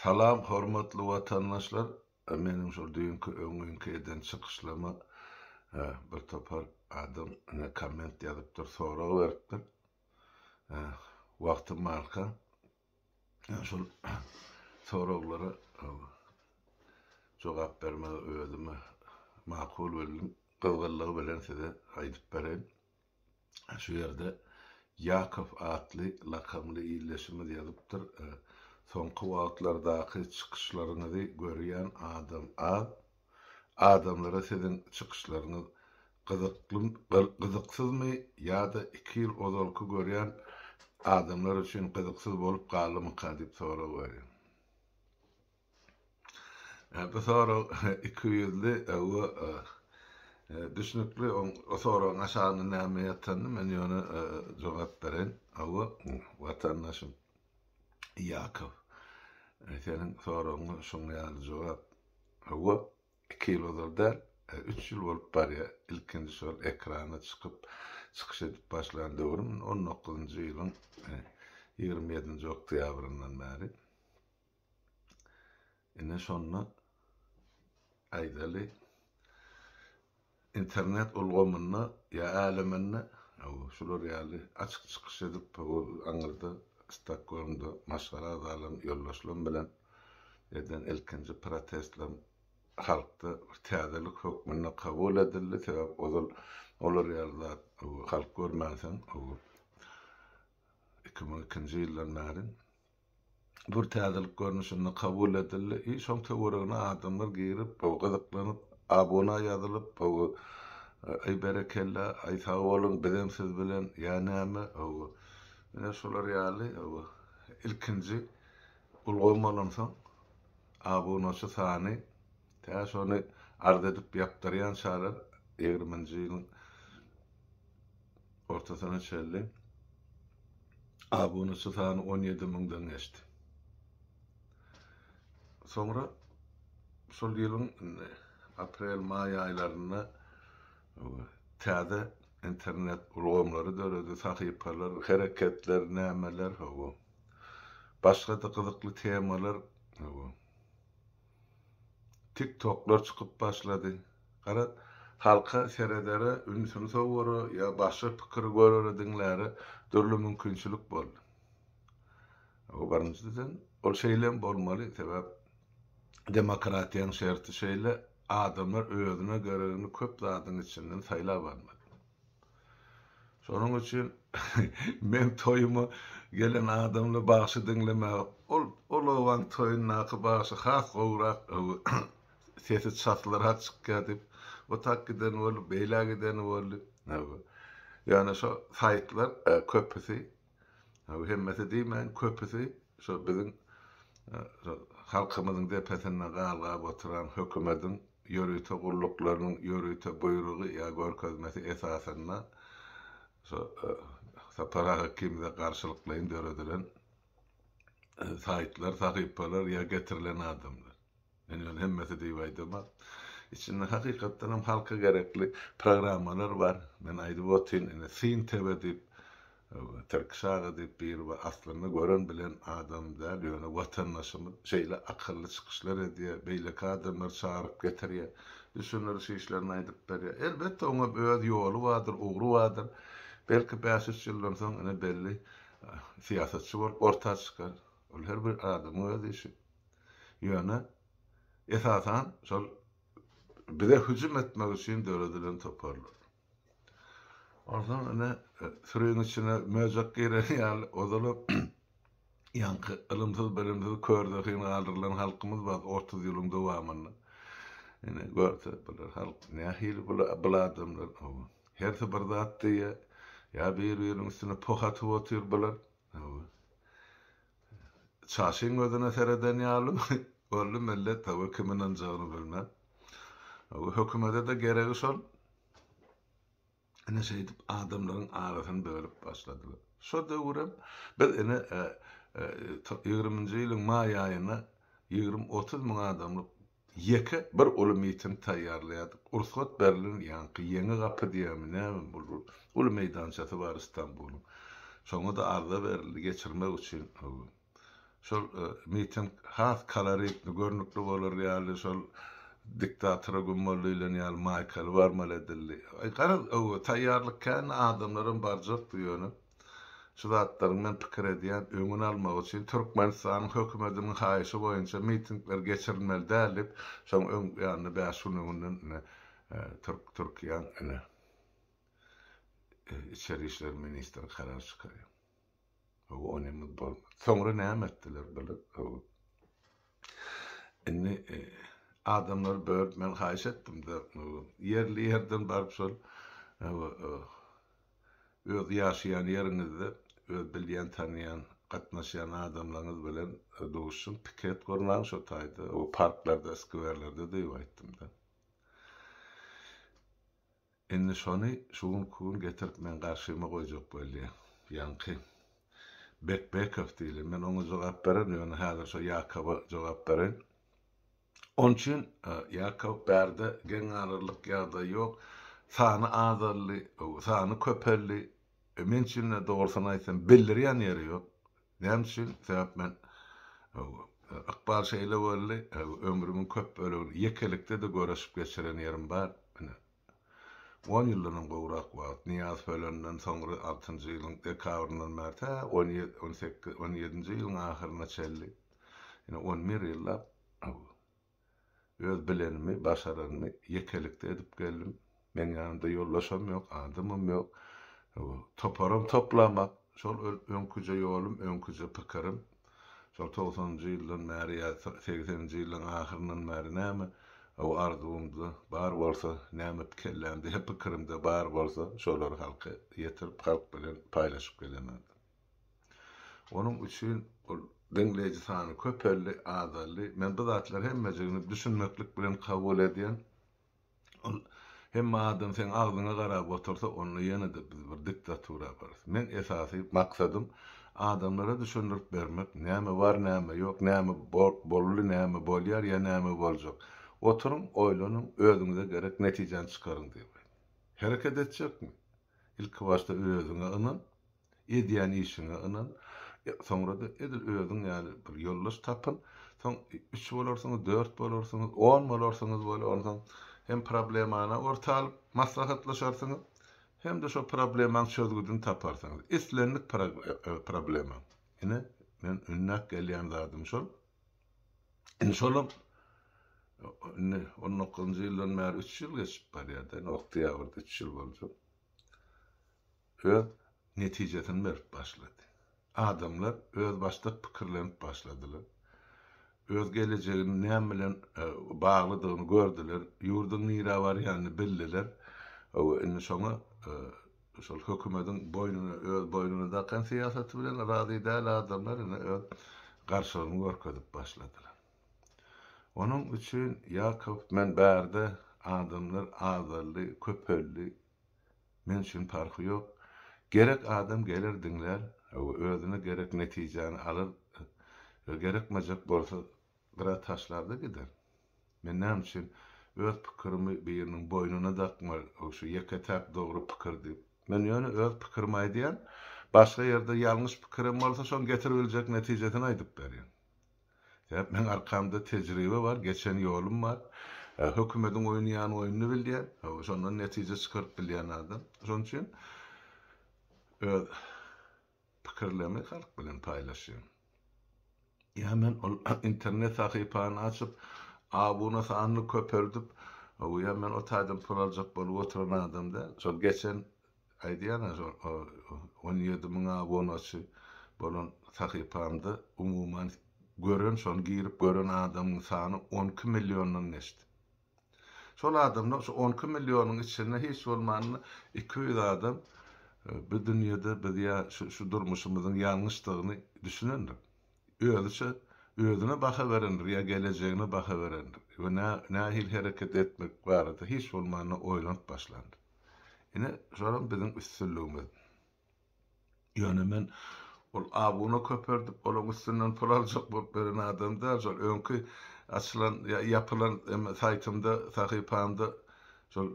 Salam hormatly watandaşlar meniň şol düýnki öňňinki eden çykyşlama bir topar adam ine komment ýazypdyr sorag beripdir wagtym barka şol soraglara jogap bermegi özüme makul bildim gyzgynlygy bilen size aýdyp bereýin. Şu ýerde Ýakow atly lakamly ildeşimiz ýazypdyr, Soňky wagtlardaky çykyşlaryňyzy görýän adam az. Adamlara siziň çykyşlaryňyz gyzyksyzmy ýa-da iki ýyl ozalky görýän adamlar üçin gyzyksyz bolup galdymyka diýip sorag berýän. Bu sorag ikiýüzli we düşnükli. O soragyň aşagynda näme ýatanyny men ýöne jogap bereýin. Hawa, watandaşym Ýakow, seniň soragyňa şuň ýaly jogap. Hawa, iki ýyl ozal däl, üç ýyl bolup barýar, ilkinji şol ekrana çykyp, çykyş edip başlan döwrüm, on dokuzynjy ýylyň ýigrimi ýedinji oktýabryndan bäri. Ine şonda aýdaly, internet ulgamynda ýa äleminde şular ýaly açyk çykyş edip, aňyrda Stokgolmda maşgala agzalaryň, ýoldaşlarym bilen eden ilkinji protestlerim halkda bir täzelik hökmünde kabul edildi. Sebäbi ozal olar ýaly zat halk görmänsoň, iki müň ikinji ýyldan bäri bir täzelik görnüşinde kabul edildi i şoň töweregine adamlar girip gyzyklanyp abuna ýazylyp aý berekella aý sag boluň bizem siz bilen ýa näme ine şular ýaly ilkinji ulgam bolansoň abunaçy sany tä şony arz edip ýapdyrýançalar ýigriminji ýylyň ortasyna çenli abunaçy sany on ýedi müňden geçdi. Soňra şol ýylyň indi aprel-maý aýlarynda täze internet ulgamlary döredi, sahypalar, hereketler, nämeler, hawa, başga-da gyzykly temalar, hawa. Tik toklar çykyp başlady. Gara halka seredere ünsüni sowara ýa başga pikiri görere diňläre dürli mümkinçilik boldy. Bu birinjiden ol şeýlem bolmaly sebäp demokratiýaň şerti şeýle adamlar özüne geregini köp zadyň içinden saýlap almaly. Şonuň üçin meň toýuma gelen adamlar bagşy diňlemäge ol ol obaň toýundaky bagşy has gowyrak sesi çaslyrak çykýar diýip o tak gideni boldy beýlä gideni boldy. Ýöne şo saýtlar köpüsi Ýa hemmesi diýmäýin, köpüsi şo biziň halkymyzyň depesinde galgap oturan hökümediň ýörite gulluklarynyň ýörite buýrugy ýa görkezmesi esasynda şo Sapar aga ikimize garşylyklaýyn döredilen saýtlar, sahypalar ýa getirilen adamlar. Men ýöne hemmesi diýip aýdamok. Içinde hakykatdan hem halka gerekli programmalar bar. Men aýdyp otyryn, ine Syn TV diýip, Tirkiş aga diýip biri bar. Aslynda gören bilen adam däl, ýöne watandaşymyz şeýle akylly çykyşlar edýär, beýleki adamlary çagyryp getirýär, düşündiriş işlerini aýdyp berýär. Elbetde oň hem öz ýoly bardyr, ugry bardyr. Belki bäş-üç ýyldan soň ine belli syýasatçy bolup orta çykar. Ol her bir adamyň öz işi. Ýöne, esasan, şol bize hüjüm etmek üçin döredilen toparlar. Onsoň ine, süriň içine möjek giren ýaly, ozalam ýaňky ylymsyz-bilimsiz kör-zehin galdyrylan halkymyz bar otuz ýylyň dowamynda. Ine, görse, bular halk nähili bul adamlar? Hawa. Hersi bir zat diýýär, ýa bir-biriniň üstüne poh atyp otyr bular. Hawa. Çaşyň gözüne sereden ýaly boldy, millet tawy kim ynanjagyny bilmän. Bu hökümede-de geregi şol. Ine şeýdip adamlaryň arasyny bölüp başladylar. Şo döwürem biz ine ýigriminji ýylyň maý aýynda ýigrimi-otuz müň adamlyk Ýeke bir uly miting taýýarlaýardyk. Rugsat berlen ýaňky Ýeňi gapy diýýärmi, nämemi bul bir uly meýdançasy bar Istanbulyň. Şoňa-da arza berildi geçirmek üçin. Şol miting has koloritni, görnükli bolar ýaly şol diktatora gümmaly öýlen ýaly maýkaly barmaly edildi. Garaz, taýýarlyk kän, adamlaram barjakdy ýöne. Şu zatlaryň men pikir edýän öňüni almak üçin Türkmenistanyň hökümetiniň haýyşy boýunça mitingler geçirilmeli däl diýip şoň öň ýanynda bäş gün öňünden ine türk Türkiýäň ine içeri işler ministri karar çykarýar. Hawa o neme bolmady. Soňra näme etdiler bular? Hawa. Indi adamlary bölüp men haýyş etdim-de ýerli ýerden baryp şol Öz ýaşaýan ýeriňizde öz bilýän-tanýan, gatnaşýan adamlaryňyz bilen duşuň, piket gurnaň şo taýda, o parklarda, skwerlerde diýip aýtdym-da. Indi şony şu günki gün getirip meň garşyma goýjak bolýa. Ýaňky Bekbekow diýlen, men oňa jogap bererin, ýöne häzir şo Ýakowa jogap bereýin. Onuň üçin Ýakow bärde geň galarlyk ýagdaý ýok. Sany azaldy, sany köpeldi. Men üçin-de, dogrusyny aýtsam, bildirýän ýeri ýok. Näme üçin? Sebäp men ykbal şeýle boldy, ömrümiň köp bölegini ýekelikde-de göreşip geçiren ýerim bar. On ýyldanam gowrak wagt, Nyýazow ölenden soňra altynjy ýylyň dekabryndan bäri tä on ýedi, on sekiz, on ýedinji ýylyň ahyryna çenli, ýene on bir ýyllap öz bilenimi, başaranymy ýekelikde edip geldim. Meniň ýanymda ýoldaşam ýok, adamym ýok. Toparam toplamak, şol öňküje ýolum, öňküje pikirim. Şol togsanynjy ýyldan bäri ýa segseninji ýylyň ahyryndan bäri näme o arzuwymda bar bolsa, näme kellämde, pikirimde bar bolsa, şolary halka ýetirip, halk bilen paýlaşyp gelemen. Onuň üçin ol diňleýji sany köpeldi, azaldy. Men bu zatlary hemmejigini düşünmeklik bilen kabul edýän. Ol, Hemme adam seň agzyňa garap otursa, onda ýene-de biz bir diktatura yaparys. Meň esasy maksadym adamlara düşündirip bermek, näme bar, näme ýok, näme boldy, näme bolýar ýa näme boljak. Oturyň, oýlanyň, özüňize gerek netijäni çykaryň diýip aýdýan. Hereket etjekmi? Ilki başda özüňe ynan. Edýän işiňe ynan. Soňra-da edil özüň ýaly bir ýoldaş tapyn. Soň üç bolarsyňyz, dört bolarsyňyz, on bolarsyňyz weli, onsoň hem problemany orta alyp maslahatlaşarsyňyz, hem-de şo problemaň çözgüdini taparsyňyz. Islendik problema. Ine, men ünnäp gelýän zadym şol. Indi şolam indi on dokuzynjy ýyldan bäri üç ýyl geçip barýar-da, indi oktýabrda üç ýyl boljak. öz netijesini berip başlady. Adamlar özbaşdak pikirlenip başladylar. Öz gelejeginiň näme bilen baglydygyny gördüler, ýurduň nirä barýanyny bildiler. Hawa, indi şoňa şol hökümediň boýnuna, öz boýnuna dakan syýasaty bilen razy däl adamlar indi öz garşylygyny görkezip başladylar. Onuň üçin Ýakow, men bärde adamlar azaldy, köpeldi, Men üçin parhy ýok. Gerek adam geler diňlär we özüne gerek netijäni alar we gerekmejek bolsa gyra taşlar-da gider. Men näme üçin öz pikirimi biriniň boýnuna dakmaly, şu ýeke-täk dogry pikir diýip. Men ýöne öz pikirimi aýdýan, başga ýerde ýalňyş pikirem bolsa şoň getirip biljek netijesini aýdyp berýän. Sebäp meň arkamda tejribe bar, geçen ýolum bar. Hökümediň oýnaýan oýnuny bilýän, şondan netije çykaryp bilýän adam. Şonuň üçin öz pikirlerimi halk bilen paýlaşýan. Ýa men ol internet sahypany açyp, abuna sanyny köpeldip, ýa men o taýdan pul aljak bolup oturan adam däl. Şol geçen Aýdýan-a, on ýedi müň abunaçy bolan sahypamda umuman gören, şony girip gören adamyň sany on iki milliondan geçdi. Şol adamlar, şu on iki millionyň içinde hiç bolmanda iki ýüz adam bu dünýede biz ýa şu durmuşymyzyň ýalňyşdygyny düşünendir. Özüçe özüne baha berendir ýa gelejegine baha berendir we nähili hereket etmek barada hiç bolmanda oýlanyp başlandyr. Ine, şolam biziň üstünligimiz. Ýöne men ol abuna köperdip, olaň üstünden pul aljak bolup beren adam däl. Şol öňki açylan, ýa ýapylan eme saýtymda, sahypamda şol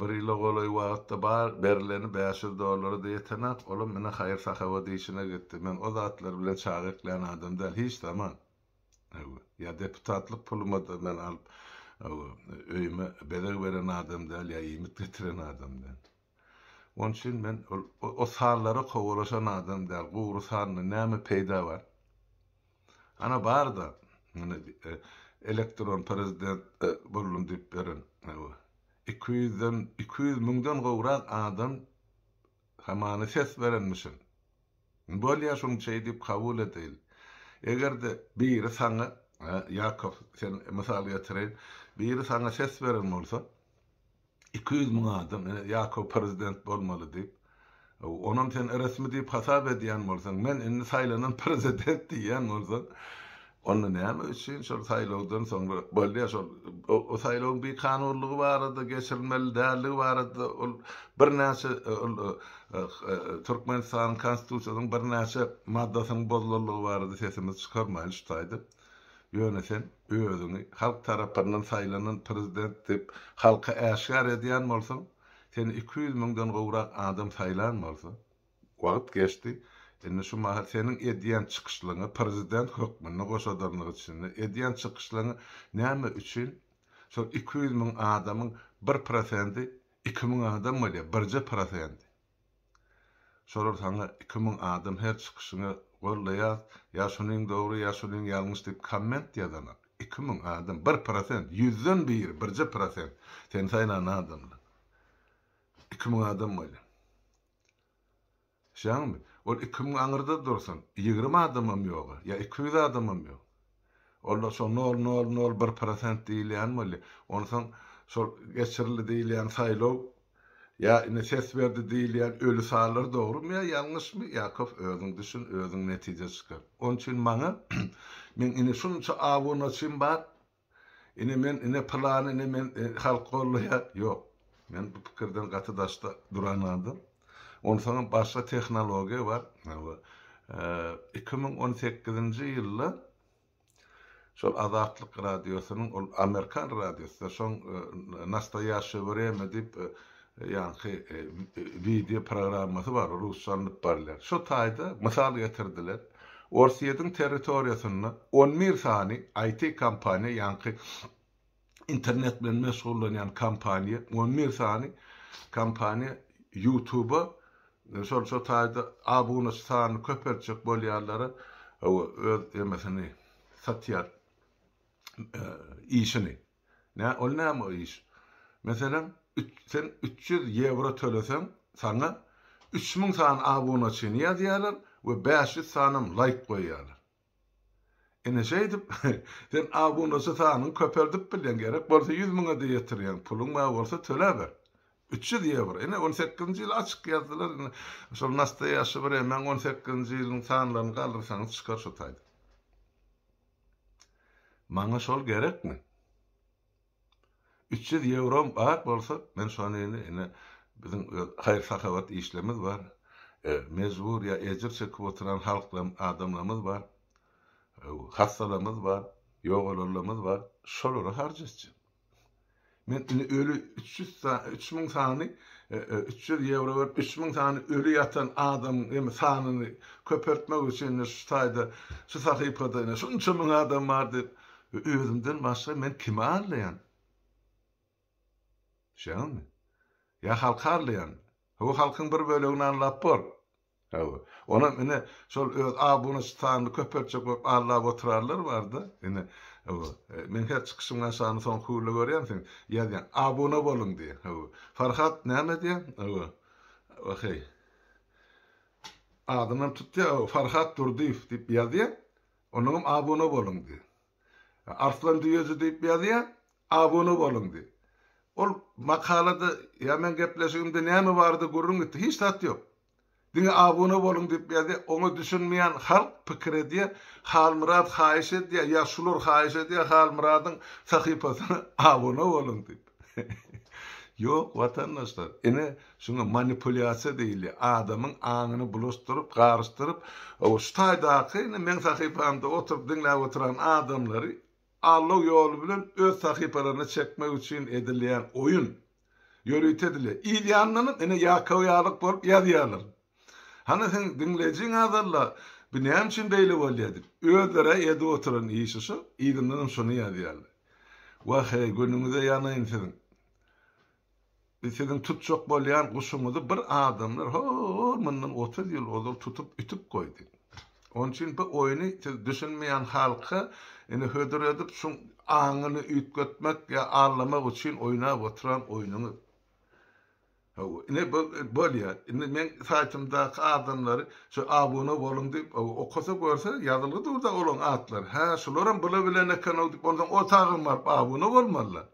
bir ýyla golaý wagtda bar berileni bäş ýüz dollara-da ýetenak, olam ine haýyr-sahawat işine gitdi. Men o zatlar bilen çaga eklän adam däl, hiç zaman. Ýa deputatlyk puluma-da men alyp, öýüme bezeg beren adam däl, ýa iýmit getiren adam däl. Onuň üçin men o sanlara kowalaşan adam däl. Gury sandan näme peýda bar? Ana bar-da, ine, elektron prezident boldum diýip beren, iki ýüzden, iki ýüz müňden gowrak adam hamany ses berenmişin. Bolýa şuň çeý diýip kabul edeýin. Eger-de biri saňa, Ýakow sen mysal getireýin, biri saňa ses beren bolsa, iki ýüz müň adam, ine, Ýakow prezident bolmaly diýip, onam sen resmi diýip hasap edýän bolsaň, men indi saýlanan prezident diýýän bolsaň, Onda näme üçin şol saýlawdan soňra bolýar şol o saýlawyň bikanunlygy barada geçirilmeli däldigi barada ol birnäçe ol Türkmenistanyň konstitusiýasynyň birnäçe maddasynyň bozulanlygy barada sesimizi çykarmaýyn şu taýda. Ýöne sen özüňi halk tarapyndan saýlanan prezident diýip halka äşgär edýän bolsaň, seni iki ýüz müňden gowrak adam saýlan bolsa, Wagt geçdi. Indi şu mahal seniň edýän çykyşlaryňa prezident hökmünde goşadanlyk içinde edýän çykyşlaryňy näme üçin şol iki ýüz müň adamyň bir prosendi iki müň adam bolýar, birje prosendi. Şolar saňa iki müň adam her çykyşyňy goldaýas, ýa şunyň dogry, ýa şunyň ýalňyş diýip komment ýazanak. Iki müň adam, bir prosent, ýüzden biri, birje prosent, seni saýlan adamlar. Iki müň adam bolýar. Düşýäňmi? Ol iki müň aňyrda dursun, ýigrimi adamam ýog-a, ýa iki ýüz adamam ýok. Ol-da şo nol, nol, nol bir prosent diýilýän bolýar. Onsoň şol geçirildi diýilýän saýlaw ýa indi ses berdi diýilýän öli sanlar dogrumy ýa ýalňyşmy, Ýakow, özüň düşün, özüň netije çykar. Onuň üçin maňa, meň indi şunça abunaçym bar, Ine men ine pylany ine men halk golloýar ýok men bu pikirden gaty daşda duran adam onsaňam başga tehnologiýa bar iki müň on sekizinji ýylda şol azatlyk radiosynyň ol amerikan radiosy şoň nastoýaşşe wremýa diýip ýaňky wideo programmasy bar, rusça alnyp barylýar. Şo taýda mysal getirdiler. Orsýetiň territoriýasynda on bir sany IT kompaniýa, ýaňky internet bilen meşgullanýan kompaniýa, on bir sany kompaniýa YouTube-a şol şo taýda abunaçy sanyny köpeltjek bolýarlara öz emesini satýar işini. Nä, ol näme iş? Meselem, üç, sen üç ýüz ýewro töleseň, saňa üç müň sany abunaçyny ýazýarlar we bäş ýüz sanam laýk goýýarlar. Ine, şeýdip, sen abunaçy sanyňy köpeldip bilýäň, gerek bolsa ýüz müňe-de ýetirýäň, pulyň bar bolsa töläber. Üç ýüz ýewro. Ine, on sekizinji ýyl açyk ýazdylar, ine, şol nastoýaşi bir emäň on sekizinji ýylyň sanlaryny galdyrsaňyz çykar şo taýda. Maňa şol gerekmi? Üç ýüz ýewrom bar bolsa, men şony indi, ine, biziň öz haýyr-sahawat işlerimiz bar, mejbur ýa ejir çekip oturan halklam, adamlarymyz bar, hassalarymyz bar, ýogalanlarymyz bar, şolara harç etjek. Men indi öli üç ýüz sany, üç müň sany, üç ýüz ýewro berip, üç müň sany öli ýatan adamyň indi sanyny köpeltmek üçin indi şu taýda, şu sahypada indi şunça müň adam bar diýip, özümden başga men kimi aldaýan? Düşýäňizmi? Ýa halky aldaýanmy? Hawa, halkyň bir bölegini aldap bor. Hawa. Onam ine, şol öz abunaçy sanyny köpeltjek bolup allap oturarlar bar-da. Ine, hawa, men her çykyşymyň aşagyna soňky hüwürle görýän sen ýazýaň, Abuna boluň diýen. Hawa. Farhat näme diýen? Hawa. Waheý. Adynam tutýa, hawa, Farhat Durdyýew diýip ýazýa, onuňam abuna boluň diýen. Arslan düýeji diýip ýazýa, Abone boluň diý. Ol makalada ýa meň gepleşigimde näme bardy gürrüň gitdi. Hiç zat ýok. Diňe abone boluň diýip ýazýa. Oňa düşünmeýän halk pikir edýä, Halmyrat haýyş edýä ýa şular haýyş edýä Halmyradyň sahypasyna abone boluň diýip. Ýok watandaşlar. Ine şuňa manipulýasiýa diýilýä. Adamyň aňyny bulaşdyryp, garyşdyryp, şu taýdaky indi meň sahypamda oturyp diňläp oturan adamlary aldaw ýoly bilen öz sahypalaryna çekmek üçin edilýän oýun ýörite dile, il ýanyndanam ene ýakaw ýalyk bolup ýazýarlar. Hany seň diňleýjiň azalda, bu näme üçin beýle bolýar diýip, özler-ä edip oturan işi şu, yzyndanam şuny ýazýarlar. Wah-eý, günüňize ýanaýyn siziň. Biz siziň tutjak bolýan guşuňyzy bir adamlar ho-o-o mundan otuz ýyl ozal tutup ütüp goýdy. Onuň üçin bu oýny siz düşünmeýän halka indi hödür edip şuň aňyny üýtgetmek ýa allamak üçin oýnap oturan oýnuňyz. Hawa, ine bu bolýar. Indi meň saýtymdaky adamlary şu abuna boluň diýip okasa görse ýazylgy dur-da olaň atlary. Hä, şularam bula bilen eken-ow diýip onsoň o taýdan baryp abuna bolmalylar.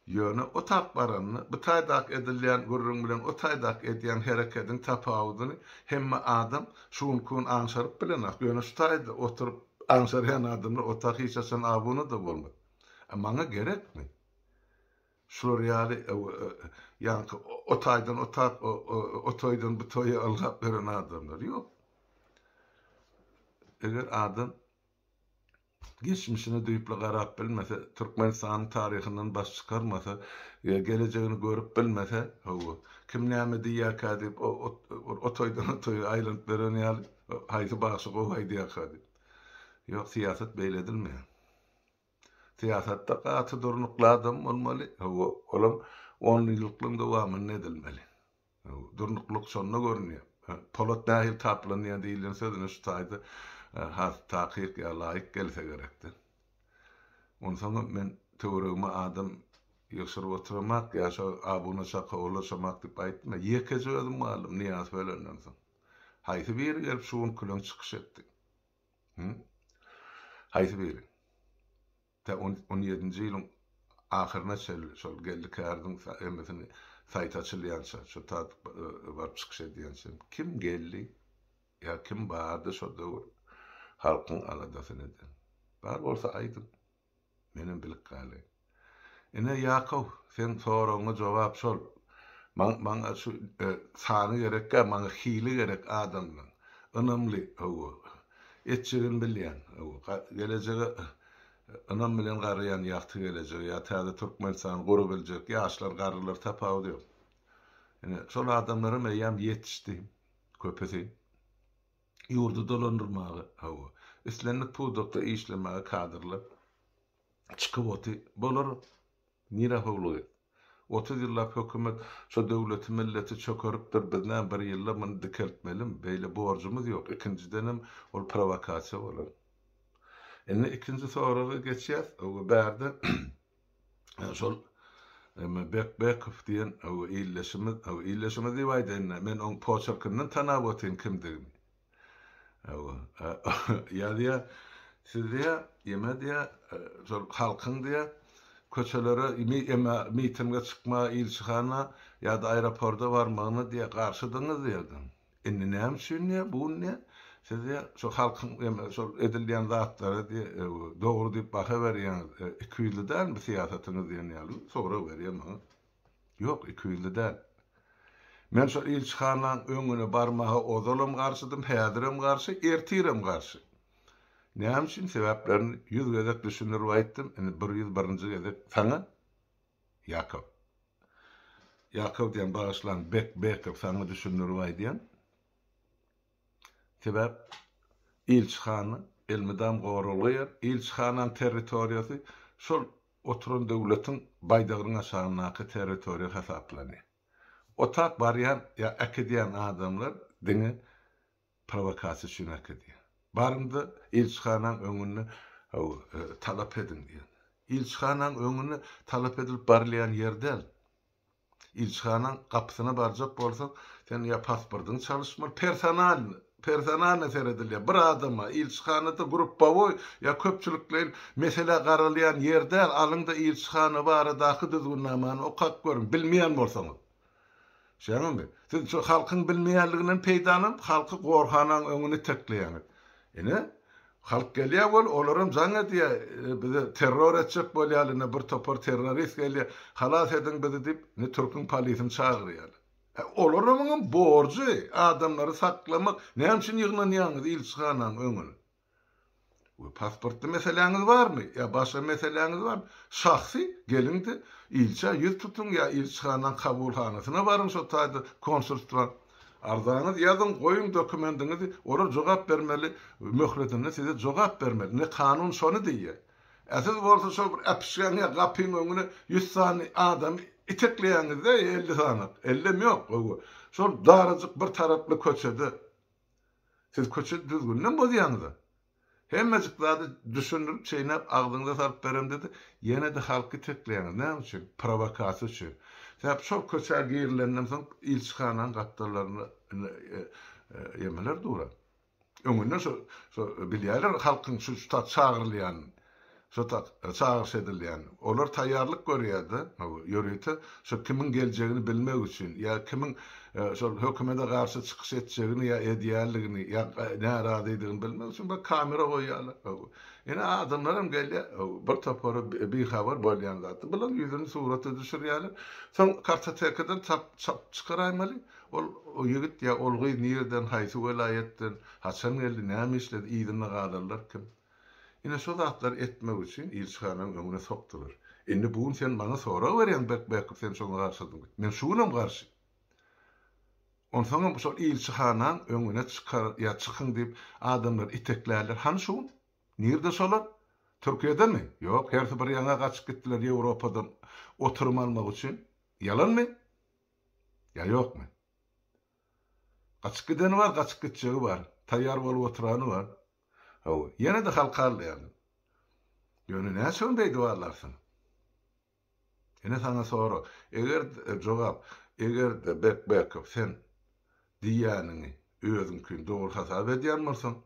Ýöne o tap baranda, bu taýdaky edilýän gürrüň bilen o taýdaky edýän herekediň tapawudyny hemme adam şu günki gün aňşaryp bilenok. Ýöne şu taýda oturyp aňşarýan adamlar o ta hiç haçan abuna-da bolmaz. A maňa gerekmi? Şular ýaly ýaňky o taýdan o tap, o toýdan bu toýa ylgap ýören adamlar? Ýok. Eger adam. Geçmişine düýpli garap bilmese, Türkmenistanyň taryhyndan baş çykarmasa, gelejegini görüp bilmese, hawa, kim näme diýýärkä diýip, o toýdan o toýa aýlanyp ýören ýaly, haýsy bagşy gowy aýdýarka diýip. Ýok, syýasat beýle edilmeýär. Syýasatda gaty durnukly adam bolmaly, hawa, olam onýyllyklygyň dowamynda edilmeli. Durnuklyk şonda görünýär. Polat nähili taplanýar diýilýän söz ine şu taýda has takyk ýa laýyk gelse gerekdi. Onsoňam men töweregime adam ýygşyryp otyramak ýa şo abuna çaka ulaşamak diýip aýtma. Ýekeje özüm galdym Nyýazow ölenden soň. Haýsy biri gelip şu gün küleň çykyş etdi? Hü? Haýsy biri? Tä on on ýedinji ýylyň ahyryna çenli şol Geldi Kärdiň emesini saýty açylýança, şo tat baryp çykyş edýänçä kim geldi ýa kim bardy şo döwür halkyň aladasyny eden? Bar bolsa aýdyň. Menem bilip galaýyn. Ine Ýakow, seň soragyňa jogap şol. Maň maňa şu sany gerek däl, maňa hili gerek adamlaň. Ynamly, hawa. Etjegini bilýän, hawa. Gelejege Ynam bilen garaýan ýagty gelejege ýa täze Türkmenistany gurabiljek ýaşlar garrylar tapawudy ýok. Ine, şol adamlaram eýýäm ýetişdi. Köpüsi ýurdy dolandyrmaga, hawa, islendik pudakda işlemäge kadrlar çykyp oty. Bolar. Nirä howlugy? Otuz ýyllap hökümet şu döwleti milleti çökeripdir biz näme bir ýylda muny dikeltmelimi? Beýle borjumyz ýok, ikinjidenem ol prowokasiýa bolar. Indi ikinji soraga geçýäs, öwgi bärde şol Bekbekow diýen öwgi ildeşimiz, öwgi ildeşimiz diýip aýdaýynda men oň poçerkinden tanap otyryn kimdigini. Hawa. Ýa diýä, siz diýä, ýeme diýä, şol halkyň diýä, köçelere ýeme mitinge çykma, ilçihana ýa-da aeroporda barmagyna diýä, garşydyňyz diýerdim. Indi näme üçin diýä, bu gün diýä, siz diýä, şol halkyň ýeme şol edilýän zatlara diýä, dogry diýip baha berýäňiz. Iki ýüzli dälmi syýasatyňyz diýen ýaly bir sorag berýär maňa. Ýok, ikiýüzli däl. Men şol ilçihanaň öňüne barmaga ozalam garşydym, häzirem garşy, ertirem garşy. Näme üçin? Sebäplerini ýüz gezek düşündirip aýtdym, indi bir ýüz birinji gezek saňa, Ýakow. Ýakow diýýän, bagyşlaň, Bek, Bekow, saňa düşündirip aýdýan. Sebäp ilçihana elmydam goralýar, ilçihanaň territoriýasy şol oturan döwletiň baýdagynyň aşagyndaky territoriýa hasaplanýar. Otap barýan ýa äkidýän adamlar diňe prowokasiýa üçin äkidýär. Baryňda ilçihanaň öňünde talap ediň diýen. Ilçihanaň öňüne talap edilip barylýan ýer däl. Ilçihanaň gapysyna barjak bolsaň, seniň ýa pasportyňy çalyşmaly, personalny, personalny seredilýär, bir adama, ilçihanada gruppawoý ýa köpçülikleýin mesele garalýan ýer däl, alyň-da ilçihana baradaky düzgünnamany okap görüň, bilmeýän bolsaňyz. Şeýmimi? Siz şu halkyň bilmeýänliginden peýdalanyp, halky gorhanaň öňüne itekleýäňiz. Ine, halk gelýär bol, olaram jaň edýär, bizi terror etjek bolýarlar, ine bir topar terrorist gelýär, halas ediň bizi diýip, ine türküň polisini çagyrýarlar. Hä, olaramyňam borjy, adamlary saklamak, näme üçin ýygnanýaňyz ilçihanaň öňüne? We pasportly meseläňiz barmy? Ýa başga meseläňiz barmy? Şahsy, geliň-de, ilçä ýüz tutuň ýa ilçihanaň kabulhanasyna baryň şo taýda konsulstwa. Arzaňyzy ýazyň goýuň dokumendiňizi olar jogap bermeli möhletinde size jogap bermeli ine kanun şony diýýä a siz bolsa şol bir äpişgäň ýa gapyň öňüne ýüz sany adamy itekleýäňizde elli sanak ellem ýok gowy şol darajyk bir taraply köçede siz köçe düzgüninem bozýaňyza. Hemmejik zady düşündirip çeýnäp agzyňyza salyp beremde-de, ýene-de halky itekleýäňiz. Näme üçin? Prowokasiýa üçin. Sebäp şol köçä girilenden soň ilçihananyň gapdallarynda indi emeler duran. Öňünden şo, şo bilýärler halkyň şu, şu tat çagyrylýanyny. Şu tak, çagyryş edilýän. Olar taýýarlyk görýär-de, hawa, ýörite şo kimiň geljegini bilmek üçin, ýa kimiň şol hökümede garşy çykyş etjegini ýa edýänligini, ýa närazydygyny bilmek üçin bir kamera goýýarlar. Hawa. Ine, adamlaram gelýär, hawa, bir topary bihabar bolýan zatdan. Bular ýüzüni surata düşürýärler. Soň kartotekadan tap çap çykaraýmaly. Ol ýigit ýa ol gyz nirden, haýsy welaýatdan, haçan geldi, näme işledi, yzynda galanlar kim? Ine şo zatlary etmek üçin ilçihananyň öňüne sokdular. Indi bu gün sen maňa sorag berýäň Berkbäkgül sen şoňa garşydyň. Men şu günem garşy. Onsoňam şol ilçihanaň öňüne çykar ýa çykyň diýip adamlary iteklärler. Hany şu gün? Nirde şolar? Türkiýedemi? Ýok, hersi bir ýaňa gaçyp gitdiler Ýewropadan oturym almak üçin. Ýalanmy? Ýa ýokmy? Gaçyp gideni bar, gaçyp gitjegi bar. Taýýar bolup oturany bar. Hawa, ýene-de halkaldaýardy. Ýöne näçe gün beýdip aglarsyň? Ine saňa sorag. Eger, jogap, eger-de Bekbekow sen diýýäniňi özüňkin dogry hasap edýän bolsaň,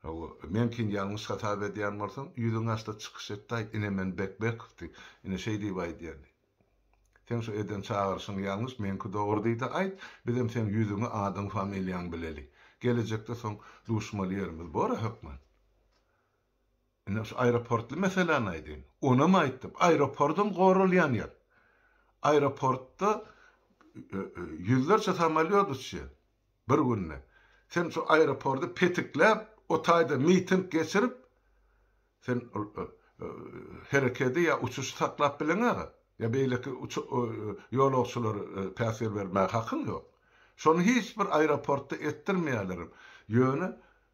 hawa, meňkini ýalňyş hasap edýän bolsaň, ýüzüňaçda çykyş etdaý, ine men Bekbekow diý, ine şeý diýip aýdýan diý. Seň şu eden çagyryşyň ýalňyş, meňki dogry diýdi aýt, bizem seň ýüzüňi, adyň, familiýaň bileli. Gelejekde soň duşmaly ýerimiz bora hökman. Ine şu aeroportly meseläni aýdaýyn. Onam aýtdym, aeropordam goralýan ýer. Aeroportda ýüzlerçe samolýot uçýar bir günde. Sen şu aeropordy petikläp, o taýda miting geçirip, Sen ol herekedi ýa uçuşy saklap bileňä-gä, ýa beýleki ýolagçylara päsgel bermäge hakyň ýok. Şony hiç bir aeroportda etdirmeýärlerem. Ýöne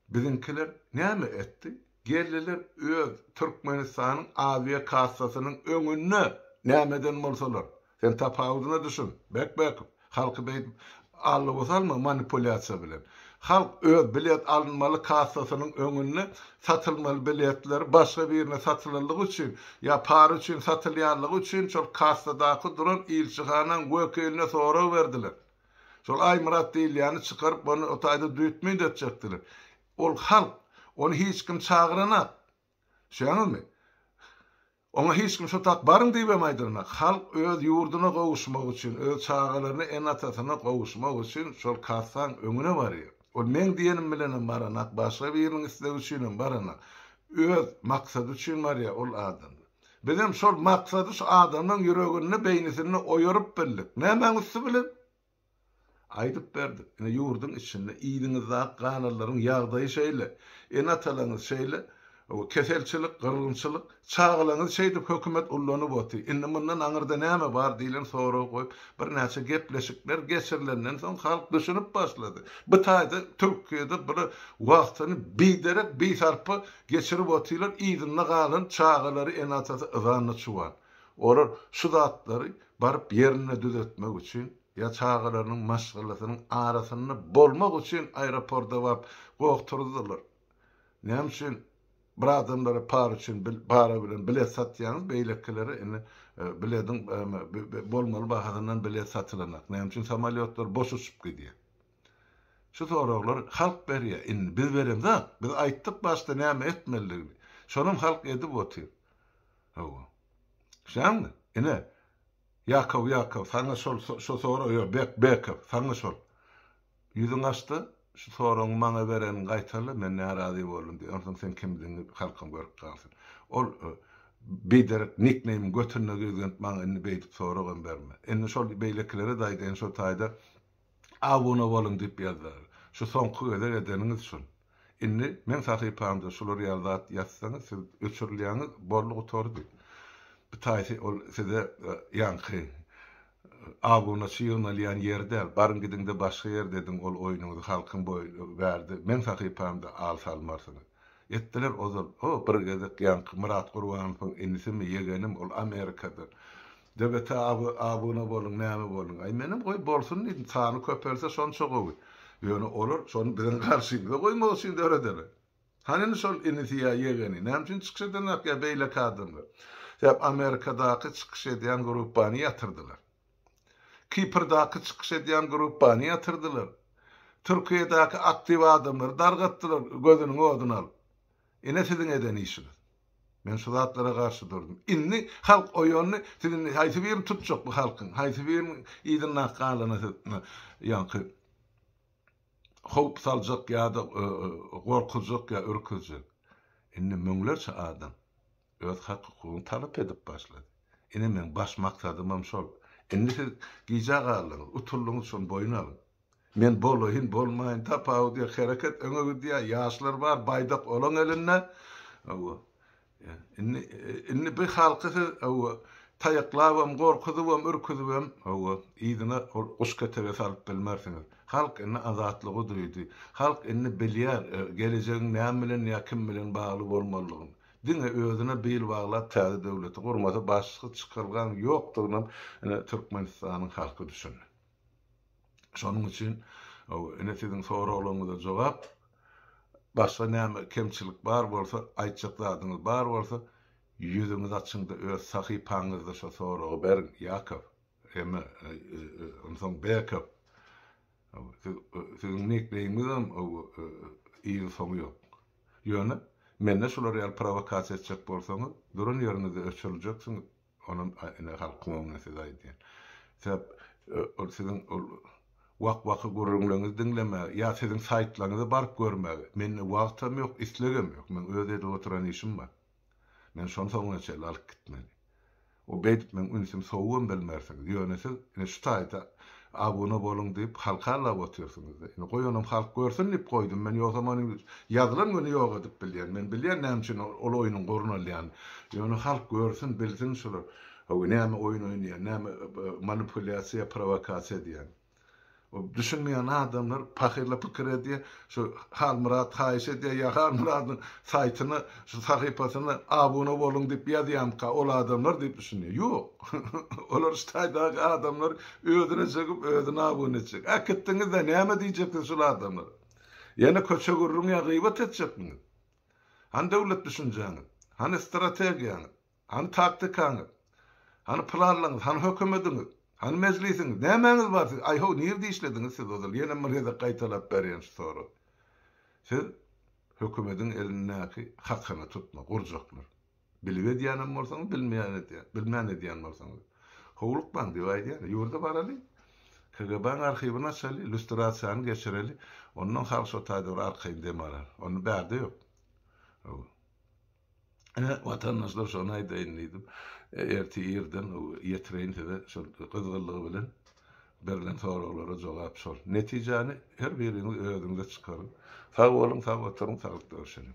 biziňkiler näme etdi? Geldiler öz Türkmenistanyň awiakassasynyň öňünde, nämeden bolsalar, Sen tapawudyna düşün, Bekbäkow! Halky beýdip allowa salma manipulýasiýa bilen. Halk öz bilet alynmaly kassasynyň öňünde satylmaly biletleri başga birine satylandygy üçin ýa para üçin satylýanlygy üçin şol kassadaky duran ilçihanaň wekiline sorag berdiler. Şol Aýmyrat diýilýäni çykaryp ony o taýda düýtmüýt etjekdiler. Ol halk, ony hiç kim çagyranak. Düşýäňizmi? Oňa hiç kim şu tak baryň diýibem aýdyrmak. Halk öz ýurduna gowuşmak üçin, öz çagalaryna ene-atasyna gowuşmak üçin şol kassaň öňüne barýar. Ol meň diýenim bilenem baranak, başga biriniň islegi üçinem baranak. Öz maksady üçin barýar ol adam. Bizem şol maksady şu adamlaň ýüreginde, beýnisinde oýaryp bildik. Nämäň üsti bilen? Aýdyp berdik. Ine ýurduň içinde, yzyňyzdaky kanallaryn ýagdaýy şeýle. Ene-atalaňyz şeýle keselçilik, gyrgynçylyk, çagalaňyzy şeýdip hökümet ullanyp oty. Indi mundan aňyrda näme bar diýlen soragy goýup, birnäçe gepleşikler geçirilenden soň halk düşünip başlady. Bu taýda Türkiýede bular wagtyny biderek, bisarpa geçirip otylar, yzynda galan çagalary, ene-atasy yzanna çuwan. Olar şu zatlary baryp ýerinde düzetmek üçin ýa çagalarynyň maşgalasynyň arasynda bolmak üçin aeroporda baryp gogturdyrlar. Näme üçin bir adamlara para üçin para bilen bilet satýaňyz, beýlekilere indi bilediň bolmaly bahasyndan bilet satylanak. Näme üçin samolýotlar boş uçup gidýär? Şu soraglary halk berýär. Indi biz beremzok. Biz aýtdyk başda näme etmelidigini. Şonam halk edip otyr. Hawa. Şaňmy? Ine. Ýakow, Ýakow, saňa şol, şo sorag, ýok, Bek, Bekow, saňa şol. Ýüzüňi aç-da, şu soragyňy maňa bereniňi gaýtala, men närazy boldum diý, onsoň sen kimdigiňi halkam görüp galsyn. Ol biderek nikneýmiň götüne girgizgenip maňa indi beýdip soragam berme. Indi şol beýlekilere-de aýdaýyn, şo taýda Abuna boluň diýip ýazar. Şu soňky gezek edeniňiz şul. Indi meň sahypamda şular ýaly zat ýazsaňyz siz öçürilýäňiz boldy gutardy. Bitaýsy ol size ýaňky abunaçy ýygnalýan ýer däl. Baryň gidiňde başga ýerde ediň ol oýnuňyzy halkyň bärde meň sahypamda al salmarsyňyz. Etdiler ozal. O bir gezek ýaňky Myrat Gurbanowyň inisimi ýegenim ol Amerikada DBT abi abuna boluň näme boluň. Aý menem goý bolsun diýdim sany köpelse şonça gowy. Ýöne olar şony biziň garşymyza goýmak üçin dörederler. Hany indi şol inisi ýa ýegeni näme üçin çykyş edenok ýa beýleki adamlar. Sebäp Amerikadaky çykyş edýän gruppany ýatyrdylar. Kiprdaky çykyş edýän gruppany ýatyrdylar. Türkiýedäki aktiw adamlary dargatdylar gözüniň oduna alyp. Ine siziň eden işiňiz. Men şu zatlara garşy durdum. Indi halk oýandy. Siz indi haýsy birini tutjak bu halkyň? Haýsy biriniň yzynda galana siz ýaňky howp saljak ýa-da gorkuzjak ýa ürküzjek? Indi müňlerçe adam öz hak-hukugyny talap edip başlady. Ine meň baş maksadymam şol. Indi siz gijä galdyňyz, utuldyňyz şony boýun alyň. Men bolaýyn, bolmaýyn, tapawudy ýok, hereket öňe gidýär, ýaşlar bar, baýdak olaň elinde. Hawa. Indi, indi bu halky siz, hawa, taýaklabam, gorkuzybam, ürküzibem, hawa, yzyna ol guşketege salyp bilmersiňiz. Halk indi azatlygy duýdy. Halk indi bilýär, gelejegiň näme bilen ýa kim bilen bagly bolmalydygyny. Diňe özüne bil baglap täze döwleti gurmasa başga çykalgaň ýokdugynam ine Türkmenistanyň halky düşündi. Şonuň üçin ine siziň soraglaryňyza jogap. Başga näme kemçilik bar bolsa, aýtjak zadyňyz bar bolsa, ýüzüňizi açyň-da öz sahypaňyzda şo soragy beriň, Ýakow, eme, onsoň Bekow. Siziň nikneýmiňizem yzy-soňy ýok. Ýöne mende şular ýaly prowokasiýa etjek bolsaňyz, duran ýeriňizde öçüriljeksiňiz. Onuň ene halkyň öňüne söz aýdýan. Sebäp ol siziň ol wak-waky gürrüňleriňizi diňlemäge ýa siziň saýtlaryňyza baryp görmäge mende wagtam ýok, islegem ýok. Meň öz edip oturan işim bar. Meni şony soňuna çenli alyp gitmeli. O beýdip meň ünsüm sowugam bilmersiňiz. Ýöne siz ine şu taýda Abune boluň diýip halk hallap otyrsyňyzda indi goýanam halk görsün diýip goýdum men ýogsam ony ýazylan güni ýok edip bilýän men bilýän näme üçin ol oýnuň gorun alýan ýöne halk görsün bilsin şular howy näme oýun oýnaýan näme manipulýasiýa prowakasiýa edýän o düşünmeýän adamlar pahyrla pikir edýä Şu Halmyrat haýyş edýär ýa Halmyradyň saýtyna şu sahypasyna abuna boluň diýip ýazýamyka ol adamlar diýip düşünýär. Ýok. Olar şu taýdaky adamlar özüne çekip özüne abuna etjek. Äkitdiňizde näme diýjeksiz şul adamlara. Ýene köçe gürrüň ýa gyýbat etjekmiňiz. Hany döwlet düşünjäňiz. Hany strategiýaňyz. Hany taktikaňyz? Hany planlaryňyz? Hany hökümediňiz? Hany mejlisiňiz? Nämäňiz bar siziň? Aý-ho, nirde işlediňiz siz ozal? Ýene Mrze gaýtalap berýän şu sorag. Siz hökümediň elindäki hakyny tutma, gurjaklar. Bilip edýänem bolsaňyz, bilmeýän edýän, bilmän edýän bolsaňyz. Howlukmaň diýip aýdýan. Ýurda baraly. KGB-niň arhiwini açaly, lýustrasiýany geçireli. Ondan halk şo taýda bir arkaýyn dem alar. Onda bärde ýok. Hawa. Ine, watandaşlar, şony aýdaýyn diýdim. Ertir irden ýetireýin size şol gyzgynlygy bilen berlen soraglara jogap şol. Netijäni her biriňiz özüňiz-de çykaryň. Sag boluň, sag oturyň, saglyk görüşeliň.